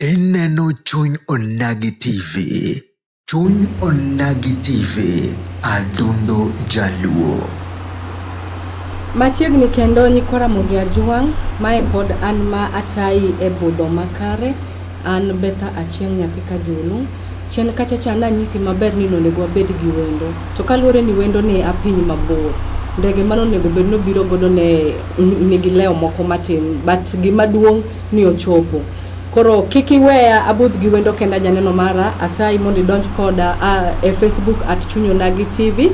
Ineno Chuny Onagi TV. Chuny Onagi TV, adundo jaluo. Machiegni kendo nyikwa Ramogi Ajwang' mae pod an ma atayi e budho makare An Betha Achieng' nyathi Kajulu. Chien kacha cha nanyisi maber ni nonego wabed gi wendo. To kaluwore ni wendo ne a piny mabor, ndege mane onego bed nobiro godo ne nigi leo moko matin but gima duong' ni ochopo. Koro kik iweya abudh gi wendo kenda janeno mara, asayi mondo idonj koda a, e Facebook at Chunyonagi TV.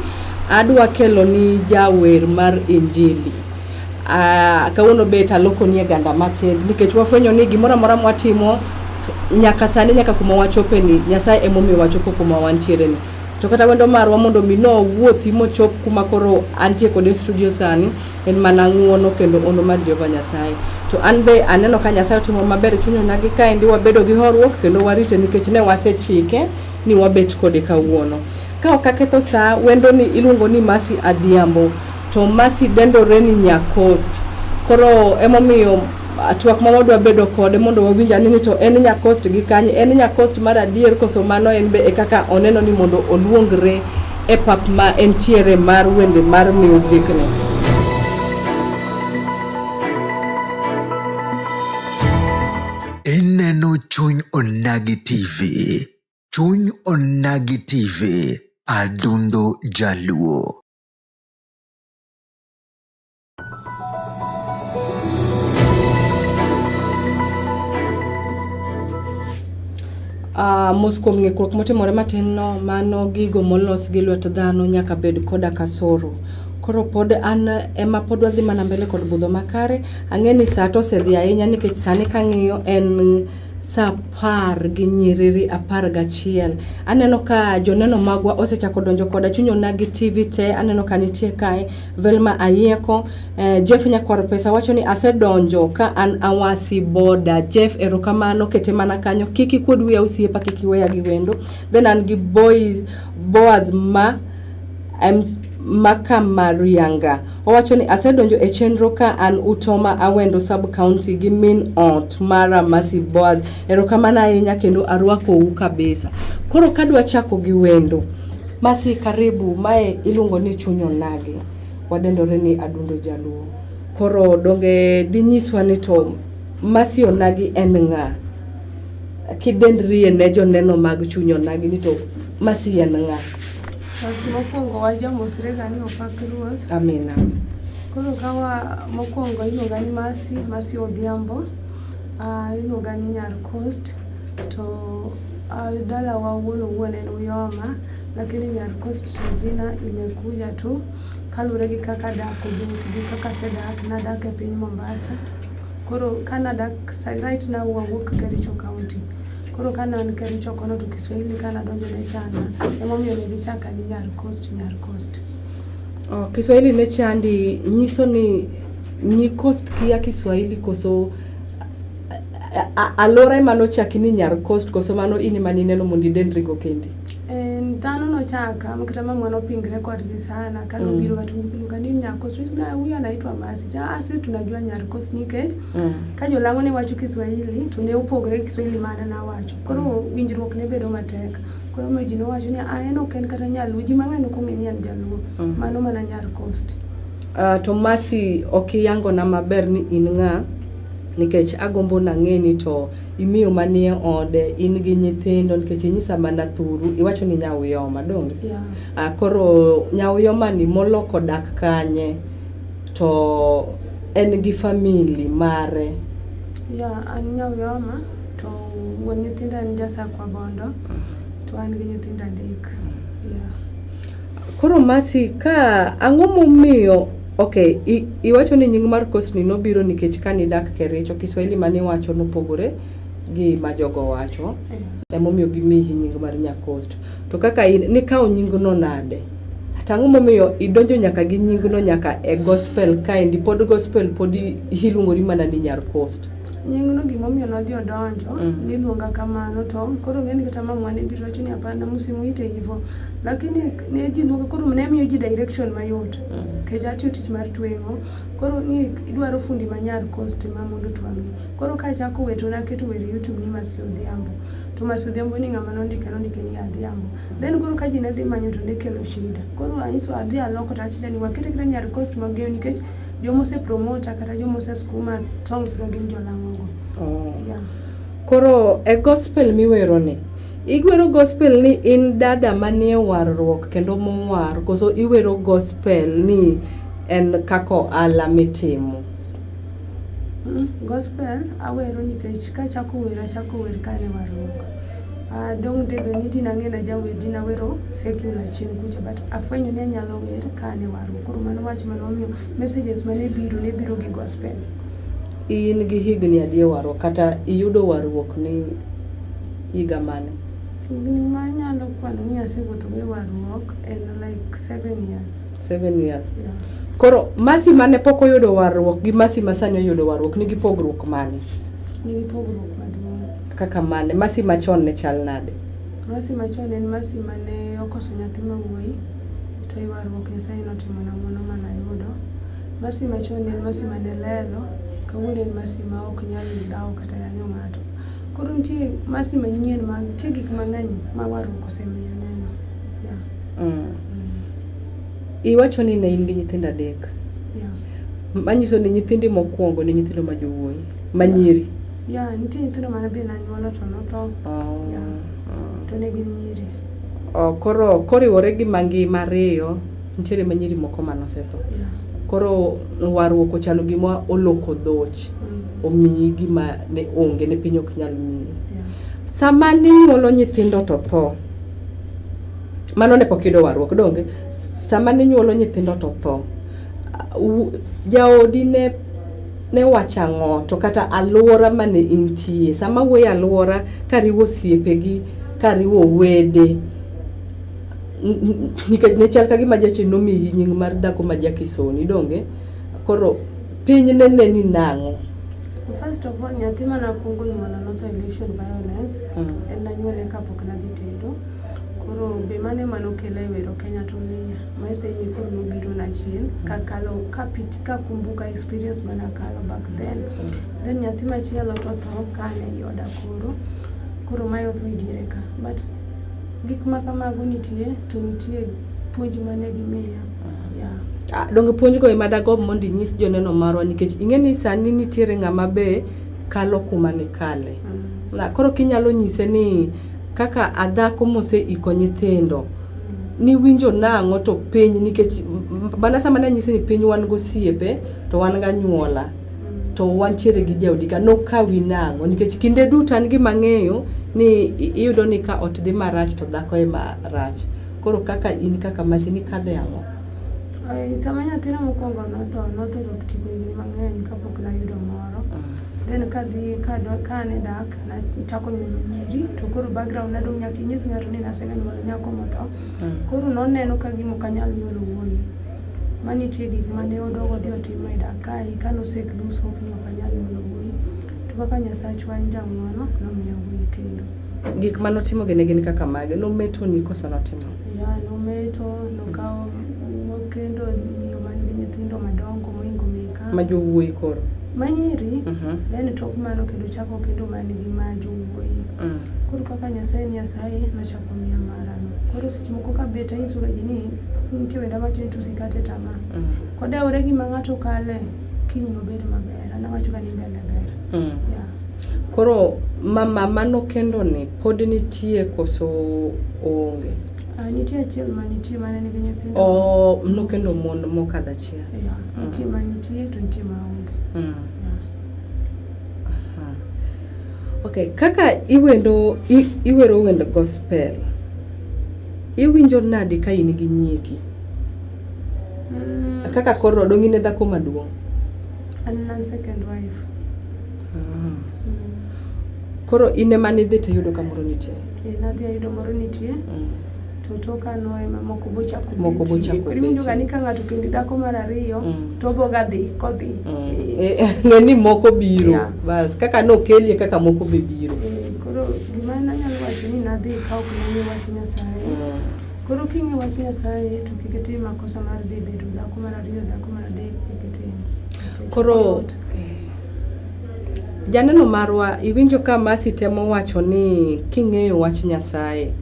Adwa keloni jawer mar Injili. Uh, kawuono bet aloko nie ganda matin nikech wafwenyo ni gimoro amora mwatimo nyaka sani nyaka kuma wachope ni Nyasaye emomiyo wachopo kuma wantiere ni to kata wendo marwa mondo mi no wuothi mochop kuma koro antie kode studio sani en mana ng'uono kendo ono mar Jehova Nyasaye to an be aneno ka Nyasaye otimo maber chunyo nagi kaendi wabedo gi horruok kendo warite nikech ne wasechike ni wabet kode kawuono ka ok aketho saa wendo ni iluongo ni Mercy Adhiambo To Mercy dendore ni nya coast. Koro emomiyo ah, twak ma wadwa bedo kode mondo wawinj ane ni to en nya coast gi kanye, en nya coast mar adier koso mano en be e kaka oneno ni mondo oluongre e pap ma entiere mar wende mar music ni. Ineno Chuny Onagi TV. Chuny Onagi TV. Adundo Jaluo. Uh, mos kuom ng'ikruok motimore matin no mano gigo molos gi lwet dhano nyaka bed koda kasoro koro pod an ema pod wadhi mana mbele kod budho makare ang'e ni saa to osedhi ahinya nikech sani kang'iyo en sa apar gi nyiriri apar gachiel. Aneno ka joneno magwa osechako donjo koda chuny onagi TV te, aneno ka nitie kae Velma Ayeko, eh, Jeff Nyakwar Pesa wacho ni asedonjo ka an awasi boda. Jeff erokamano kete mana kanyo, kik ikuod wiya osiepa, kik iweya gi wendo. Then an gi boy, Boaz ma Maka Marianga owacho ni asedonjo e chenro ka an Utoma Awendo sub county gi min ot mara Mercy Boaz. Erokamano ahinya kendo arwakou kabisa. Koro kadwa chako gi wendo. Mercy karibu, mae iluongo ni chuny onagi. Wadendore ni adundo jaluo. Koro donge dinyiswa ni to Mercy onagi en ng'a? Kidendrie ne joneno mag chuny onagi ni to Mercy en ng'a? Mokwongo wajamosre gani opak Ruoth. Amina. Koro kawa mokwongo iluonga ni Masi, Masi Odhiambo. Ah, iluonga ni Nyar Coast to ah, dalawa wuon owuon en Uyoma lakini Nyar Coast jina imekuja tu kaluwore gi kaka dak obet gi kaka sedak nadak e piny Mombasa. Koro kanadak sa- right now wawuok Kericho County. Koro ka nan Kericho kono to Kiswahili ka nadonjo ne chanda, emomiyo ne gichaka ni Nyar Coast, Nyar Coast. Oh, Kiswahili ne chandi nyiso ni nyi coast kia Kiswahili koso alora ema nochaki ni Nyar Coast koso mano in ema nineno mondo idendrigo kendi? dhano nochaka kata mama nopingre kodgi sana kanobiro mm. kata luka ni Nyar Coast, huyu anaitwa Masi, ah, sisi tunajua Nyar Coast nikech Mm. Ka jolang'o ne wacho Kiswahili to ne opogore Kiswahili ma an awacho. Koro mm. winjruok ne bedo matek. Koro ma ji nowacho ni ah en ok en kata nyaluo ji mang'eny ok ong'e ni an jaluo. Mm. Mano mana nyar coast. Uh, to Masi ok iyangona maber ni in ng'a nikech agombo nang'eni to imiyo manie ode in gi nyithindo nikech inyisa mana thuru iwacho ni nyauyoma donge yeah. uh, koro nyauyomani moloko dak kanye To en gi family mare. Ya, an Nyauyoma to wuon nyithinda en Jasakwa Bondo to an gi nyithinda adek. Yeah. Koro Masi ka ang'o momiyo okay, iwacho ni nying mar kosni nobiro nikech kane idak Kericho, Kiswahili mane iwacho nopogore gi ma jogo wacho. Yeah. Emomiyo gimiyi nying mar Nyakost. To kaka in, nikawo nyingno nade? to ang'o momiyo idonjo nyaka gi nyingno nyaka e gospel kaendi pod gospel pod iluongori mana ni nyar coast nyingno gimomiyo nodhi odonjo mm. niluonga kamano to koro ng'eni kata mamwa ne biro wacho ni hapana msimuite hivo lakini ne ji luonga koro ne miyo ji direction mayot mm. kech atiyo tich mar tweng'o koro ni idwaro fundi manyar coast ma mondo twang'ni koro ka achako weto naketo wer youtube ni masi odhiambo to masi odhiambo ni ng'ama nondike nondike ni adhiambo Then koro ka ji ne dhi manyo to ne kelo shida. Koro anyiso adhi aloko to achicha ni wakete kata nyar cost mageyo nikech joma ose promota kata joma ose skuma songs ga gin jolang'ogo. Oh. Yeah. Koro e gospel miwero ni igwero gospel ni in dada manie warruok kendo mowar koso iwero gospel ni en kaka ohala mitimo mm, gospel awero nikech kachako wer achako wer kane warruok Uh, dong dedo ni dina ng'ena jawer dina wero secular chien kucha but afwenyo ni anyalo wer ka ane waru koro mano wach mane omiyo messages mane biro ne biro gi gospel in gi higni adi e warruok kata iyudo warruok ni higa mane higni ma anyalo kwano ni asewuotho e warruok en like seven years seven years yeah. koro masi mane pok oyudo warruok gi masi masani oyudo warruok nigi pogruok mane nigi pogruok Kaka mane? Masi machon ne chal nade? Masi machon en masi mane okoso nyathi ma wuoyi to ywaruok Nyasaye notimo na mano mana yudo. Masi machon en masi mane lelo, kawuono en masi ma ok nyal dhawo kata yanyo ng'ato. Koro nitie masi manyien ma nitie gik mang'eny ma warruok osemiyo neno. Yeah. Mm. Mm. Iwacho ni ne in gi nyithindo adek. Yeah. Manyiso ni nyithindi mokwongo ne nyithindo ma jowuoyi, ma nyiri. Yeah. Yeah, nitie nyithindo mane be nanyuolo to notho. Oh. Yeah. Oh. To ne gin nyiri. Oh, koro koriwore gi mangima ariyo nitiere ma nyiri moko ma nosetho. Yeah. Koro warruok ochalo gima oloko dhoch. Mm. Omiyi gima ne onge ne piny ok nyal miyi. Yeah. Sama ninyuolo nyithindo to tho. Mano ne pok yudo warruok donge. Sama ninyuolo nyithindo to tho. Jaodi ne ne wacho ang'o to kata alwora mane intie sama wuoye alwora kariwo osiepegi kariwo wede nikech ne chal ka gima jachi nomiyi nying mar dhako ma jakisoni donge koro piny ne ne ni nang'o First of all, nyathi manakwongo nyuolo noto elation violence. Mm. En nanyuole kapok nadhi tedo. Koro be mano ema nokela e wero Kenya to Linya. Maisha hii ni koro nobiro na chien kakalo kapiti kakumbuka experience mana kalo back then. Then nyathi machielo to tho kane ei oda koro. Koro mae otho e diere ka. But gik ma kamago nitie to nitie puonj mane gimiya. Yeah. Ah, donge puonj go ema dago mondo inyis joneno marwa nikech ing'e ni sani nitiere ng'ama be kalo kuma nikale. Mm. Na, koro kinyalo nyise ni Kaka adhako moseiko nyithindo, niwinjo nang'o to piny nikech mana sama ne anyisi ni piny wan gosiepe to wan ganyuola to wantiere gi jaodi ka nokawi nang'o nikech kinde duto an gima ng'eyo ni iyudo ni ka ot dhi marach to dhako ema rach koro kaka in kaka masi nikadhe ang'o sama nyathina mokwongo notho notho to tigo higni mang'eny kapok nayudo moro mm. then kadhi kane dak Nachako nyuolo nyiri to koro background na dong' nyaka inyis ng'ato ni nasega nyuolo nyako motho. Mm. Koro noneno ka gima ok anyal nyuolo wuoyi. Ma nitie gik ma ne odog odhi otimo e dak kae ka nosek lose hope ni ok anyal nyuolo wuoyi. To kaka Nyasachwa en jang'wono nomiya wuoyi kendo. Gik ma notimo gi ne gin kaka mage? Nometo ni koso notimo? Ya, nometo, nokawo, nokendo miyo man gi nyithindo madongo mohingo meke. ma jowuoyi koro manyiri mm -hmm. then tok mano kendo chako kendo man gi ma jowuoyi mm. koro kaka nyasaye ni asaye nochako miya marano koro seche moko ka bet ainyisoga ji ni nitie wenda wacho ni tusikate tama mm. kodewore gima ng'ato kale kiny nobed maber an awachoga ni mbele ber mm. yeah. koro mama mano kendo ni pod nitie koso onge Ah, nitie achiel ma nitie mane nigi nyithindo oh, nokendo mon mokadho achiel Nitie. Yeah. Mm. Nitie ma nitie to nitie ma onge. Mm. Yeah. Aha. Okay, kaka iwendo i, iwero wend gospel. Iwinjo nadi ka in gi nyieki? Mm. Kaka koro odong' in e dhako maduong'. An an second wife. Ah. Koro in ema nidhi to iyudo ka moro nitie. Eh, nadhi ayudo moro nitie. Mm. to tok ano ema moko bochako moko bochako koro iwinjo ga ni ka ng'ato kendi dhako mar ariyo mm. to oboga dhi kodhi mm. eh. eh, ng'e ni moko biro yeah. bas kaka nokelie kaka moko be biro eh, koro gima nanyalo wacho ni nadhi ka ok nang'e wach nyasaye mm. koro king'e wach nyasaye to kik itim makosa mar dhi bedo dhako mar ariyo dhako mar adek kik itim koro janeno marwa iwinjo ka masi temo wacho ni king'eyo wach nyasaye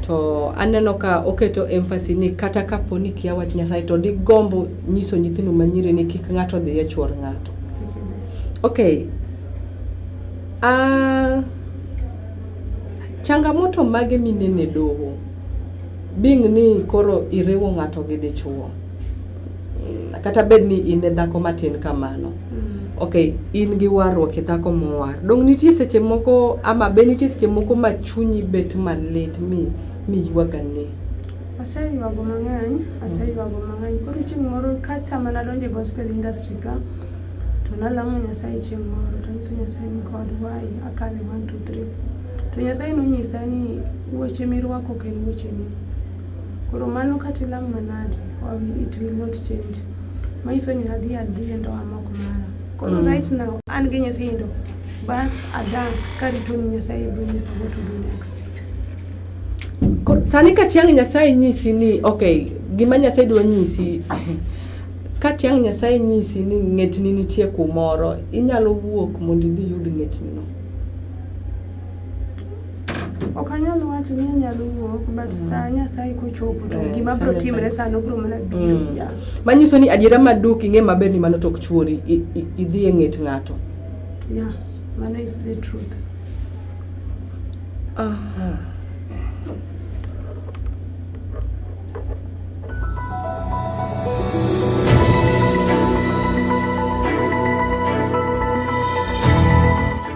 to aneno ka oketo emphasis ni kata kapo ni kia wach Nyasaye to digombo nyiso nyithindo manyiri ni kik ng'ato odhi e chuor ng'ato. Okay. Uh, changamoto mage minene doho being ni koro iriwo ng'ato gi dichuo? kata bed ni in e dhako matin kamano mm. ok in gi warruok e dhako mowar dong nitie seche moko ama be nitie seche moko ma chunyi bet malit mi miywaga ng'e aseywago mang'eny aseywago mang'eny koro chieng' moro kasta mana donjo e gospel industry ka to nalamo nyasaye chieng' moro to nyiso nyasaye ni god why akale one two three to nyasaye nonyisa ni weche mirwako ok en wecheni Koro mano kata ilam manadi, it will not change. Manyiso ni nadhi adhi e ndoa mok mara. Koro mm. right now an gi nyithindo but adang' karito ni Nyasaye biro nyisa what to do next. Sani ka tiang' Nyasaye nyisi ni okay, gima Nyasaye dwa nyisi ka tiang' Nyasaye nyisi ni ng'etni nitie kumoro, inyalo wuok mondo idhi yud ng'etnino. ok anyal wacho ni anyalo wuok but mm. saa nyasaye kochopo to eh, gima bro timre sano bro mana biro mm. ya manyiso ni adiera maduk ing'e maber ni mano tok chuori idhi e ng'et ng'ato ya mano is the truth aha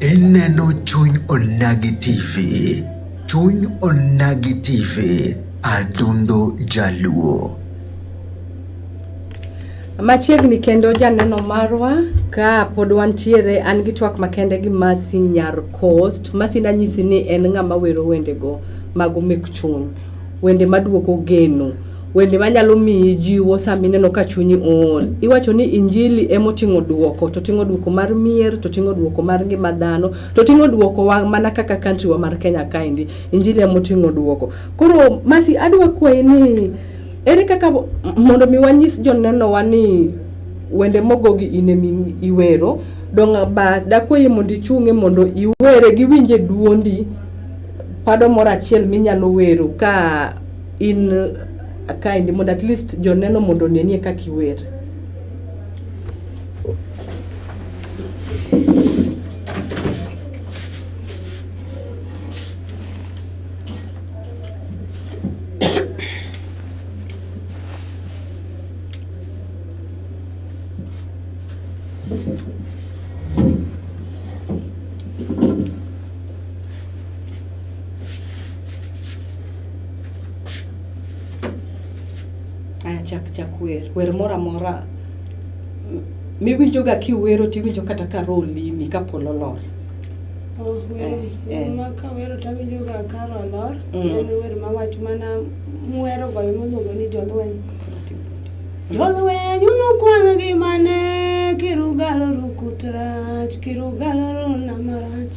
Ineno chuny onagi TV. Chuny onagi TV. Adundo Jaluo. Machiegni kendo janeno marwa ka pod wantiere an gi twak makende gi Masi Nyar Coast. Masi nanyisi ni en ng'ama wero wendego mago mek chuny. Wende maduoko geno. Wende manyalo miyi jiwo sama ineno ka chunyi ool. Iwacho ni injili ema oting'o duoko, to ting'o duoko mar mier, to ting'o duoko mar ngima dhano, to ting'o duoko wa mana kaka country wa mar Kenya kaendi. Injili ema oting'o duoko. Koro Masi adwa kwayi ni ere kaka mondo mi wanyis joneno wa ni wende mogo gi in ema iwero, dong' ba dakwayi mondo ichung'e mondo iwere giwinje duondi pado moro achiel minyalo wero ka in uh, kind mondo at least joneno mondo onenie kaka iwer Aya, chak chak wer wer moro amora miwinjoga kiwero tiwinjo kata ka roho limi ka polo lor. Oh, wer Eh, eh. wer ma kawero tawinjoga kar olor Mm. en wer mawacho mana mwero goyo miluongo ni jolweny jolweny unukwang' gi mane kirugalo rukut rach kirugalo rona marach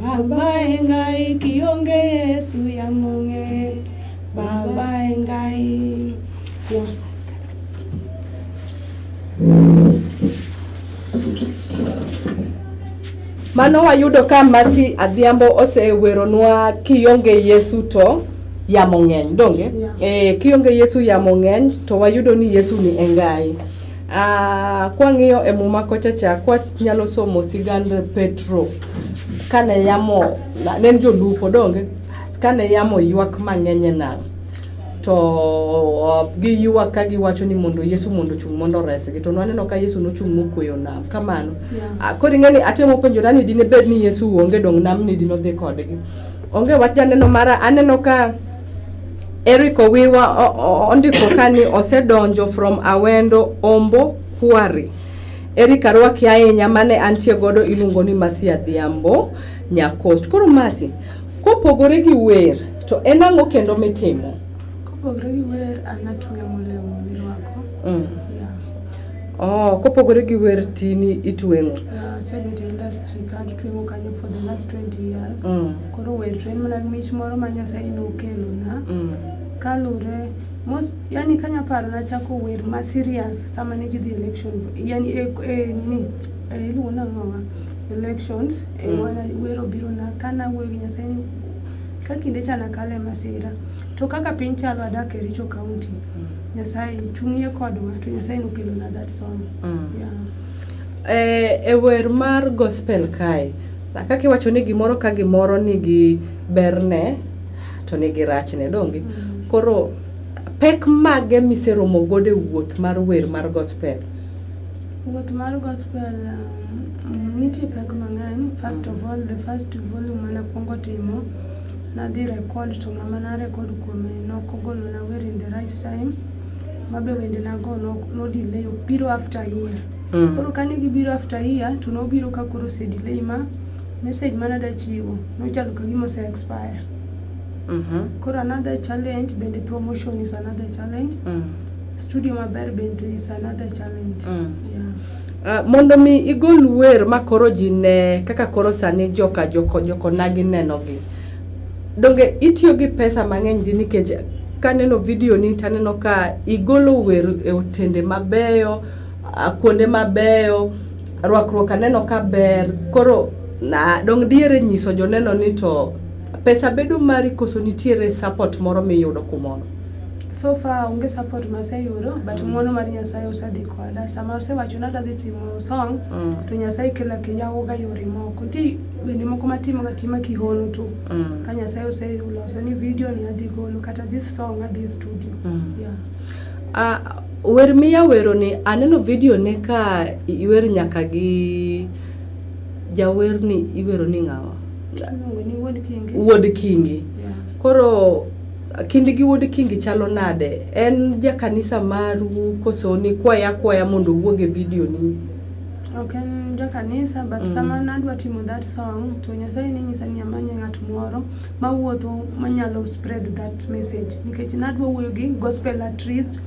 Baba engai kionge Yesu ya monge Baba engai yeah. Mano wayudo ka Masi Adhiambo oseweronwa kionge Yesu to yamo ng'eny donge yeah. E, kionge Yesu yamo ng'eny to wayudo ni Yesu ni engai Uh, kwang'iyo e muma kocha cha kwanyalo somo sigand Petro kane yamo ne en jolupo donge kane yamo ywak mang'eny e nam to uh, giywak ka giwacho ni mondo Yesu mondo ochung' mondo oresgi to nwaneno ka Yesu nochung' mokweyo nam kamano yeah. Ah, koro ing'e ni atemo penjora ni dine bed ni Yesu onge dong' nam ni dine odhi kodgi onge wach janeno mara aneno ka Eric Owiwa ondiko ka ni osedonjo from Awendo Ombo Quarry. Eric arwaki ahinya mane antie godo iluongo ni Masi Adhiambo Nyakost. Koro Masi, kopogore gi wer to en ang'o kendo mitimo? Kopogore gi wer an atueyo molewni mirwako. Mm. Oh, kopogore gi wer tini itweng'o? Yeah, asebet e industry ka atweng'o kanyo for the last 20 years. Mm. Koro wer to en mana mich moro ma Nyasaye nokelona mm. kalure mos yani kanya paro nachako wer ma serious sama ne jidhi election yani e, e, nini e, iluongo nang'owa elections e, mm. wana, wer obiro na kana wuoyo gi Nyasaye ni ka kinde cha nakale masira to kaka piny chalo adak e Richo County mm. Nyasaye chung'ie kodwa to Nyasaye nokelona that song mm. yeah. e, e wer mar gospel kae Kaka iwacho ni gimoro ka gimoro nigi berne to nigi rachne donge. Mm. Koro pek mage miseromo godo e wuoth mar wer mar gospel? Wuoth mar gospel um, nitie pek mang'eny. First of all, the first volume mane akwongo timo nadhi record to ng'ama na record kuome nok ogolona wer in the right time mabe wende nago nodelay opiro after year Mm. Koro kane gibiro after year to nobiro ka koro ose delay ma message mane adwa chiwo nochalo ka gima ose expire. Mm -hmm. Koro another challenge bende promotion is another challenge. Mm. Studio maber bende is another challenge. Mm. Yeah. Uh, mondo mi igol wer ma koro ji ne kaka koro sani joka joko joko nagi nenogi donge itiyo gi pesa mang'eny di nikech kaneno video ni taneno ka igolo wer e otende mabeyo ah, kuonde mabeyo, rwakruok aneno ka ber. Koro na dong' diere nyiso joneno ni to pesa bedo mari koso nitiere support moro miyudo kumono? so far onge support maseyudo but ng'wono mar nyasaye osedhi koda sama osewacho ni adadhi timo song Mm. to nyasaye kela kiyawoga yore moko nti wende moko matimoga tima kihono to Mm. ka nyasaye oseloso ni video ni adhi golo kata this song adhi e studio Mm. yeah. Ah, Wer miya weroni aneno video ne ka iwer nyaka gi jawerni iwero ni ng'awa? Wuod Kingi. Koro kindi gi wuod Kingi chalo nade? En jakanisa maru koso ni kwaya kwaya mondo owuog e video ni? Ok en jakanisa but mm. sama nadwa timo that song to Nyasaye ninyisa ni amanye ng'at moro mawuotho manyalo spread that message nikech nadwa wuoyo gi gospel at least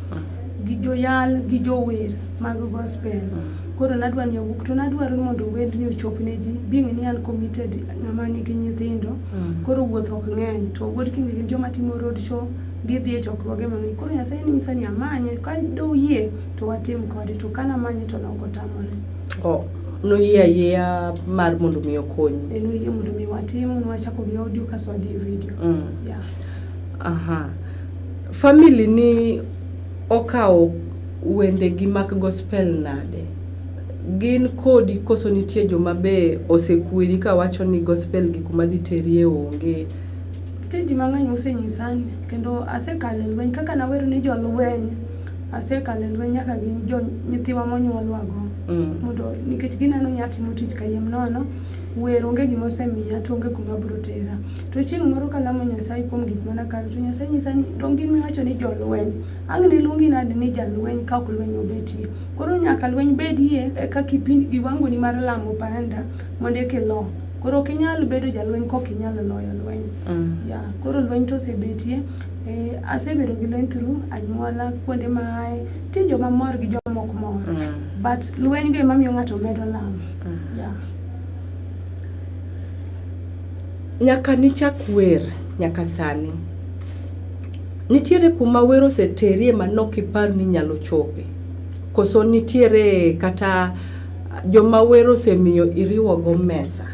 gi joyal gi jower mag gospel koro nadwa ni owuok to nadwaro mondo wendni ochop ne ji being ni an committed ng'ama nigi nyithindo mm. koro wuoth ok ng'eny to wuod kinge gin joma timo road show gidhi e chokruoge mang'eny koro nyasaye nyisa ni amanye ka doyie to watim kode to kanamanyo to nokotamore Oh, noyie ayieya mar mondo mi okonyi. Eh, noyie mondo mi watim, nwachako gi audio kaso wadhi e video. Mm. Yeah. Aha. Family ni okawo wende gi mak gospel nade? Gin kodi koso nitie joma be osekweri ka wacho ni gospel gi kuma dhi terie onge? Nitie ji mang'eny mosenyisa ni kendo asekalo e lweny kaka nawero ni jolweny asekalo e lweny nyaka gi jo nyithiwa monyuolwago mondo nikech gineno ni atimo tich kayiem nono wer onge gima osemiya to onge kuma biro tera to chieng' moro kalamo nyasaye kuom gik mana kalo to nyasaye nyisa ni dong gin miwacho ni jolweny ang' ne luongi nadi ni jalweny ka ok lweny obetie koro nyaka lweny bedie eka kipindi giwangoni mar lamo panda mondo eka ilo koro ok inyal bedo jalweny kok inyal loyo lweny mm. yeah. koro lweny to osebetie Eh, asebedo gi lweny through anyuola kuonde ma aye ti joma mor gi joma ok mor mm. but lweny go ema miyo ng'ato medo lamo mm. yeah. nyaka nichak wer nyaka sani nitiere kuma wer oseterie ma nok ipar ni nyalo chope koso nitiere kata joma wer osemiyo iriwogo mesa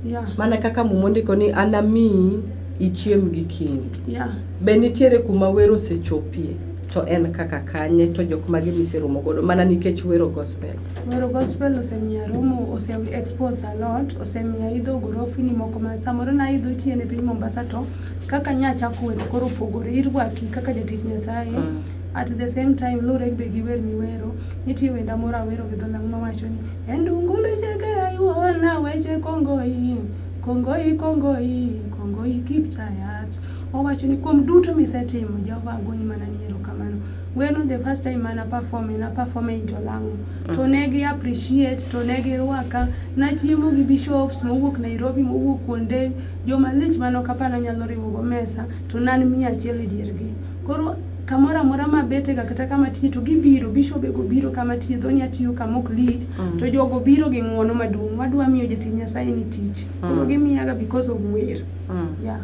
yeah. mana kaka mumondiko ni anamiyi ichiem gi kingi yeah. be nitiere kuma wero osechopie to en kaka kanye to jok mage miseromo godo mana nikech wero gospel wero gospel osemiya romo ose expose a lot osemiya idho gorofini moko ma samoro na idho chien e piny mombasa to kaka nya chako wero koro opogore irwaki kaka jatich nyasaye mm. at the same time lure be gi wer miwero nitie wenda moro awero gi dholang mawacho ni endungu lechege ayuona weche kongoi Kongoi, kongoi, kongoi Kipchayat. Owacho ni kuom duto misetimo, Jehova agoni mana ni erokamano. Gweno the first time mana perform na perform e Jolang'o. Mm. To ne gi appreciate, to ne gi rwaka, na chiemo gi bishops mowuok Nairobi, mowuok kuonde, joma lich mano kapana nyalo riwo go mesa, to nan mia achiel e diergi. Koro kamoro amora ma betega kata kama tiye to gibiro bishobego biro kama tiye dhoni atiyo kama ok lich mm. to jogo biro gi ng'uono maduong' wadwa miyo jatich nyasaye ni tich mm. koro gimiyaga because of wer mm. yeah.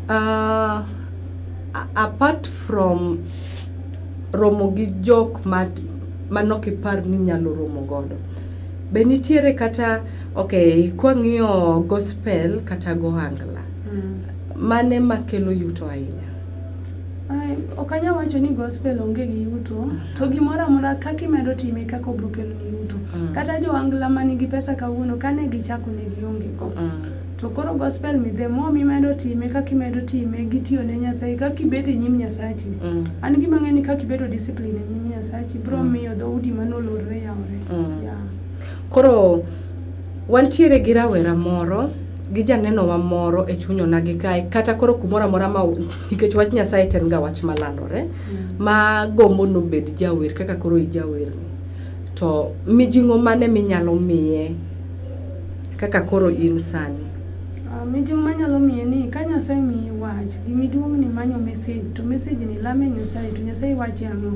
uh, apart from romo gi jok manok ipar ni nyalo romo godo be nitiere kata ok kwang'iyo gospel kata gohangla mm. mane makelo yuto ahinya Ok anyal wacho ni gospel onge gi yuto, to gimoro amora kaka imedo time kaka obro kelo ni yuto. Mm. Kata jo angla ma nigi pesa kawuono ka ne gichako ne gionge go. Mm. To koro gospel mi the more mimedo time kaka imedo time gi tiyo ne Nyasaye kaka ibet e nyim Nyasachi. Mm. An gima ng'e ni kaka ibedo discipline e nyim Nyasachi bro mm. miyo dho udi mane olorre yawre. Mm. Yeah. Koro wantiere gi rawera moro gi janeno wa moro e chuny onagi kae kata koro kumoro amora ma nikech wach Nyasaye ten ga wach malandore mm. ma gombo nobed jawer kaka koro ijawer ni to mijing'o mane minyalo miye kaka koro in sani ah, mijing'o manyalo miye ni ka Nyasaye miyi wach gi miduong' ni manyo message to message ni lame Nyasaye to Nyasaye wachi ang'o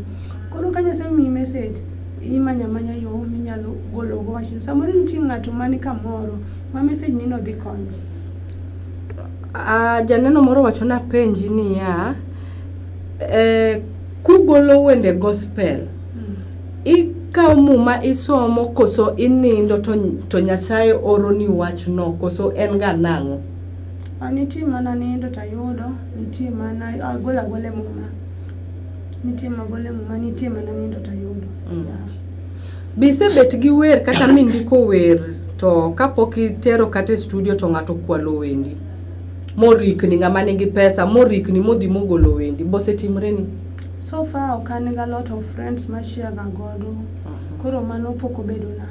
koro ka Nyasaye miyi message imanya manya yo minyalo golo go wachno samoro nitie ng'ato mani kamoro Ma message ni no dhi konyo. Ah, janeno moro wacho na penji niya, eh, kugolo wende gospel, mm. ikawo muma isomo koso inindo to, to Nyasaye oro ni wach no koso en ga nang'o? Ah, nitie mana nindo tayudo, nitie mana agol agole muma. Nitie magole muma, nitie mana nindo tayudo. Mm. Yeah. Be isebet gi wer kata mindiko wer to kapok itero kata e studio to ng'ato kwalo wendi morikni ng'ama nigi pesa morikni modhi mogolo wendi bosetimreni So far ok an ga lot of friends ma share ga godo. Koro mano pok obedo na.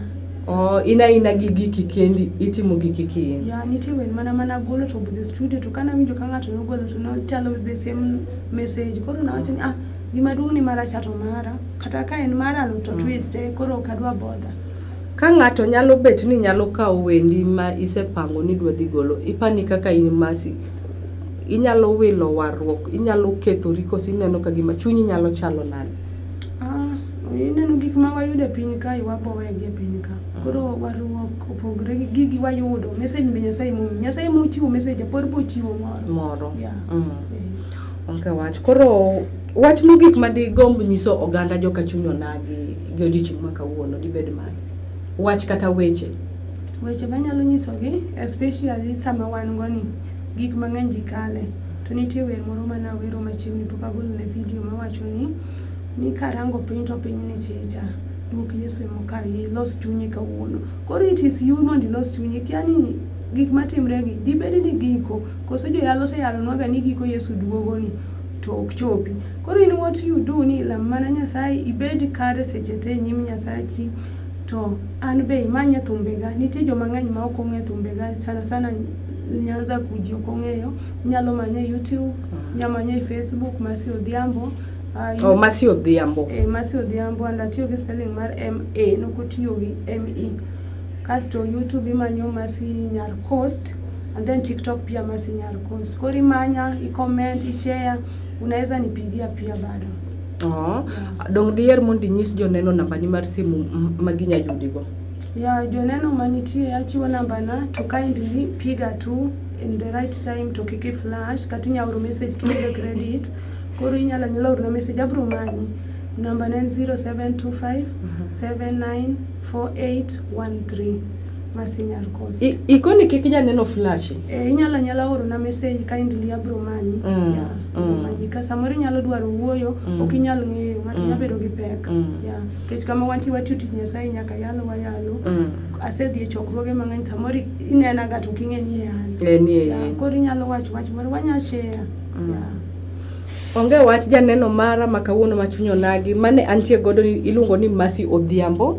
oh, in aina gi giki kendi itimo giki kiin Ya nitie wer mana mana golo to budhe studio to kana winjo ka ng'ato nogolo to nochalo the same message. Koro nawacho ni ah gima duong' ni mara chato mara. Kata ka en mar alo to mm. twist e koro ok adwa bodha. Ka ng'ato nyalo bet ni nyalo kawo wendi ma isepango ni dwa dhi golo, ipani kaka in masi inyalo wilo warruok inyalo kethori koso ineno ka gima chunyi nyalo chalo nade ah, ineno gik ma wayudo e piny kae wabowegi e piny ka ah. koro warruok opogore gi gigi wayudo message be nyasaye mo nyasaye mochiwo message pod bochiwo moro moro yeah. mm. yeah. okay, wach koro Wach mogik ma digomb nyiso oganda joka chuny onagi gi odiechieng' ma kawuono dibed mane? Wach kata weche? Weche manyalo nyisogi especially sama wan go ni gik mang'eny ji kale to nitie wer moro mana wero machiegni pok agolo ne video mawacho ni ni karango piny to piny ni chicha duok Yesu e mokawi ilos chunyi kawuono koro it is you mondo ilos chunyi kia ni gik matimregi dibed ni giko koso joyalo oseyalonwaga ni giko Yesu duogoni to ok chopi. Koro in what you do ni lam mana Nyasaye ibed kare seche te e nyim Nyasachi to an be imanye thumbega. Nitie joma ng'eny ma ok ong'e thumbega sana sana Nyanza kuji ok ong'eyo. Inyalo manye YouTube, inyalo manye e Facebook Mercy Odhiambo. Uh, oh, Mercy Odhiambo. Eh, Mercy Odhiambo and atiyo gi spelling mar M A, nokotiyo gi M E. Kasto YouTube imanyo Mercy Nyar Coast. and then TikTok pia Masinya Arcost. Kwa rimanya, i comment, i share, unaweza nipigia pia bado. Oh. Yeah. Dong dier mondo inyis joneno nambani mar simu ma ginya yudigo. Yeah, joneno manitie achiwo nambana to kindly piga tu in the right time to kiki flash kata inya oro message kiyudo credit. Koro inyalo nyalo oro message abro manyi. Namba en 0725 794813. ikoni kik janeno flash eh, inyalo anyala orona message kindly abro manyi mm, yeah, mm. manyi ka samoro inyalo dwaro wuoyo mm. ok inyal ng'eyo ng'ato mm. nyabedo gi pek mm. yeah. kech kama wanti watiyo tich nyasaye nyaka yalo wayalo mm. asedhi e chokruoge mang'eny samoro inena ga to ok ing'e ni e an eh, e yeah. koro inyalo wacho wach moro wanya share mm. yeah. Onge wach janeno mara ma kawuono ma chuny onagi mane antie godo iluongo ni Mercy Odhiambo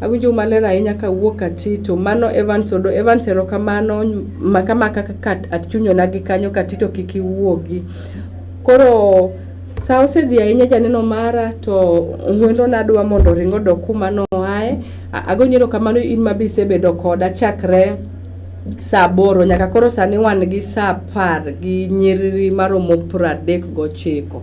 Awinjou maler ahinya kawuok Katito. Mano Evans Odo. Evans erokamano maka maka kaka atchunyona gi kanyo Katito kik iwuogi. Koro sa osedhi ahinya janeno mara to ng'weno nadwa mondo oring odok kuma noae. Agonyi erokamano in ma be isebedo koda chakre sa aboro nyaka koro sani wan gi sa apar gi nyiriri maromo pradek gochiko.